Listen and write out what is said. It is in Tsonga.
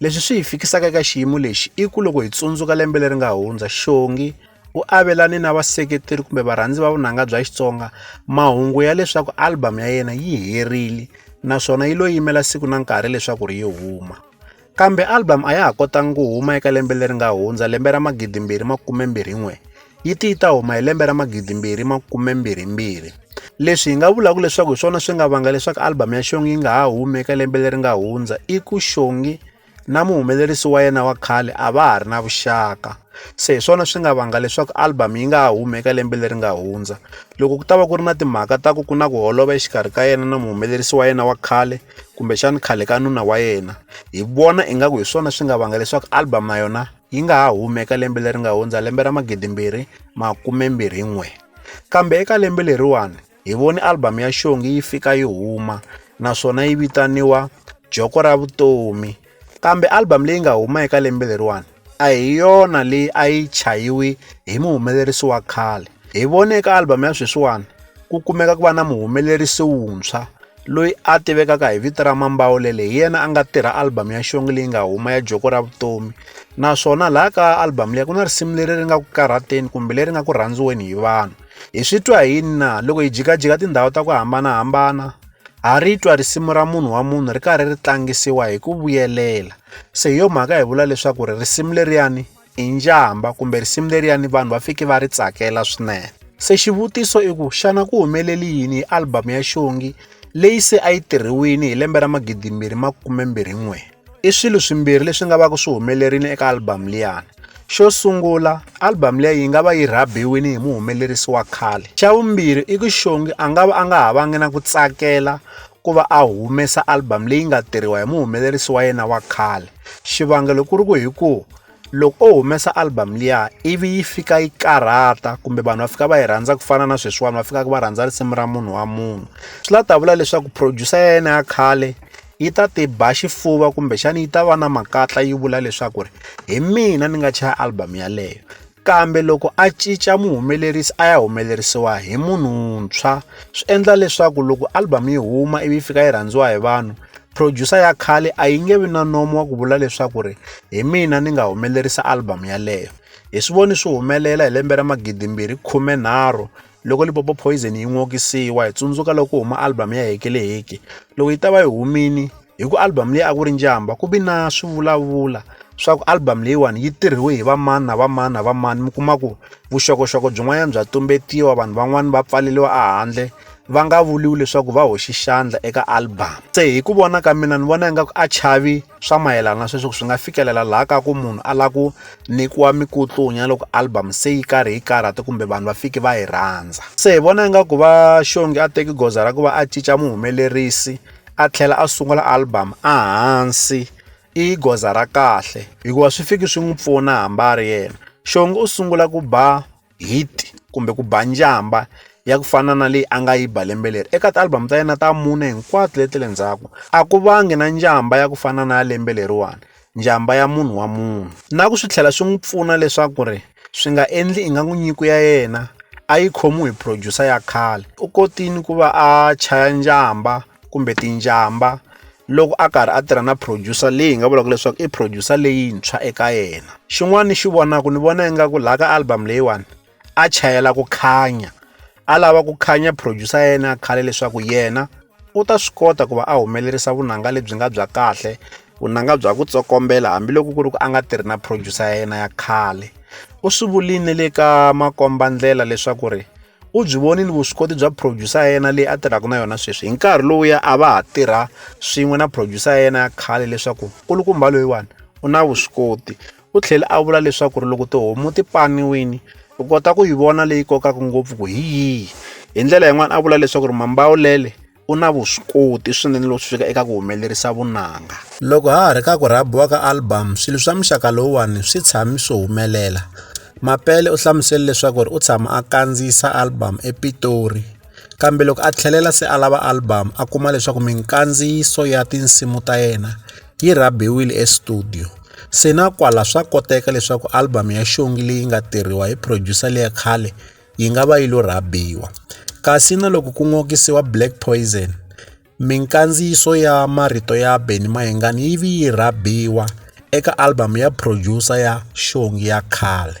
Leswi swi hi fikisaka eka xiyimo lexi i ku loko hi tsundzuka lembe leri nga hundza Xongi u avelane na vaseketeri kumbe varhandzi va vunanga bya Xitsonga mahungu ya leswaku album ya yena yi herile naswona yi lo yimela siku na nkarhi leswaku ri yi huma kambe album a ya ha kotanga ku huma eka lembe leri nga hundza lembe ra magidi mbirhi makume mbirhi n'we yi ti yi ta huma hi lembe ra magidimbirhi makumembirhimbirhi leswi hi nga vulaka leswaku hi swona swi nga vanga leswaku albhamu ya xongi yi nga ha humi eka lembe leri nga hundza i ku xongi na muhumelerisi wa yena wa khale a va ha ri na vuxaka se hi swona swi nga vanga leswaku albhamu yi nga ha humi eka lembe leri nga hundza loko ku ta va ku ri na timhaka ta ku ku na ku holova exikarhi ka yena na muhumelerisi wa yena wa khale kumbexani khale ka nuna wa yena hi vona ingaku hi swona swi nga vanga leswaku albhamu na yona yi nga ha humi eka lembe leri nga hundza lembe ra magidimbirhi makumembirhin'we kambe eka lembe leriwani hi voni albhamu ya xongi yi fika yi huma naswona yi vitaniwa joko ra vutomi kambe albhamu leyi nga huma eka lembe leriwani a hi yona leyi a yi chayiwi hi muhumelerisi wa khale hi vone eka albhamu ya sweswiwani ku kumeka ku va na muhumelerisi wuntshwa loyi a tivekaka hi vito ra mambawulele hi yena a nga tirha album ya xongi leyi nga huma ya joko ra vutomi naswona laha ka album leyi ku na risimu leri ri nga ku karhateni kumbe leri nga ku rhandziweni hi vanhu hi swi twa hi yini na loko hi jikajika tindhawu ta ku hambanahambana ha ri twa risimu ra munhu wa munhu ri karhi ri tlangisiwa hi ku vuyelela se hi yo mhaka hi vula leswaku ri risimu leriyani i njhamba kumbe risimu leriyani vanhu va fike va ri tsakela swinene se xivutiso i ku xana ku humeleli yini hi album ya xongi leyi se a yi tirhiwini hi lembe ra magidimbirhi makumembirhin'we i swilo swimbirhi leswi nga va ku swi humelerile eka album liyani xo sungula album leyi yi nga va yi rhabiwini hi muhumelerisi wa khale xa vumbirhi i ku xongi a nga va a nga ha vangi na ku tsakela ku va a humesa album leyi nga tirhiwa hi muhumelerisi wa yena wa khale xivangelo ku ri ku hi ku loko o humesa album liya ivi yi fika yi karhata kumbe vanhu va fika va yi rhandza ku fana na sweswiwani va fikaka va rhandza risimu ra munhu wa munhu swi la ta vula leswaku producer ya yena ya khale yi ta ti ba xifuva kumbexana yi ta va na makatla yi vula leswaku ri hi mina ni nga chaya album yaleyo Kambe loko a cinca muhumelerisi a ya humelerisiwa hi munhu wuntshwa swi endla leswaku loko album yi huma ivi fika yi rhandziwa hi vanhu producer ya khale a yi nge vi na nomo wa ku vula leswaku ri hi mina ni nga humelerisa album yaleyo hi swi voni swi humelela hi lembe ra magidimbirhi khume nharhu loko lipopo poison yi n'okisiwa hi tsundzuka loko huma album ya hekeleheke loko yi ta va yi humile Hi ku album leyi a ku ri njhamba ku vi na swivulavula swa ku album leyiwani yi tirhiwe hi vamani na vamani na vamani mi kuma ku vuxokoxoko byin'wanyana bya tumbetiwa vanhu van'wani va pfaleliwa ehandle va nga vuriwi leswaku va hoxi xandla eka album se hi ku vona ka mina ni vona ingaku a chavi swa mayelana sweswi ku swi nga fikelela laha ka ku munhu a lava ku nyikiwa mikutlunya loko album se yi karhi yi karhata kumbe vanhu va fiki va yi rhandza se hi vona ingaku va xongi a teki goza ra ku va a cinca muhumelerisi a tlhela a sungula album a hansi i goza ra kahle hikuva swi fiki swi n'wi pfuna hambi a ri yena xongo u sungula ku ba hit kumbe ku ba njhamba ya ku fana na leyi a nga yi ba lembe leri eka ti-album ta yena ta mune hinkwato leti le ndzhaku a ku vangi na njhamba ya ku fana na ya lembe leriwani njhamba ya munhu wa munhu. Na ku swi tlhela swi n'wi pfuna leswaku ri swi nga endli ingaku nyiko ya yena a yi khomiwi hi producer ya khale u kotile ku va a chaya njhamba kumbe tinjhamba loko a karhi a tirha na producer leyi hi nga vulaka leswaku i producer leyintshwa eka yena xin'wana ni xi vonaka ni vona ingaku laha ka album leyiwani a chayela ku khanya a lava ku khanya producer ya yena ya khale leswaku yena u ta swi kota ku va a humelerisa vunanga lebyi nga bya kahle vunanga bya ku tsokombela hambiloko ku ri ku a nga tirhi na producer ya yena ya khale u swi vuline le ka makombandlela leswaku ri u byi vonile vuswikoti bya producer ya yena leyi a tirhaka na yona sweswi hi nkarhi lowuya a va ha tirha swin'we na producer ya yena ya khale leswaku nkulukumba loyiwani u na vuswikoti u tlhele a vula leswaku ri loko tihomu ti paniwini u kota ku yi vona leyi kokaka ngopfu ku hi yihi hi ndlela yin'wana a vula leswaku ri mambawulele u na vuswikoti swinene loko swi fika eka ku humelerisa vunanga loko ha ha ri ka ku rhabiwa ka album swilo swa muxaka lowuwani swi tshami swi humelela mapele u hlamusele leswaku ri u tshama a kandziyisa album epitori kambe loko a tlhelela se a lava album a kuma leswaku minkandziyiso ya tinsimu ta yena yi rhabiwile estudiyo. Se na kwala swa koteka leswaku albhamu ya xongi leyi nga tirhiwa hi phrojusa leya khale yi nga va yi lo rhabiwa. Kasi na loko ku n'okisiwa Black Poison, minkandziyiso ya marito ya Benny Mayengani yi vi yi rhabiwa eka albhamu ya phrojusa ya xongi ya khale.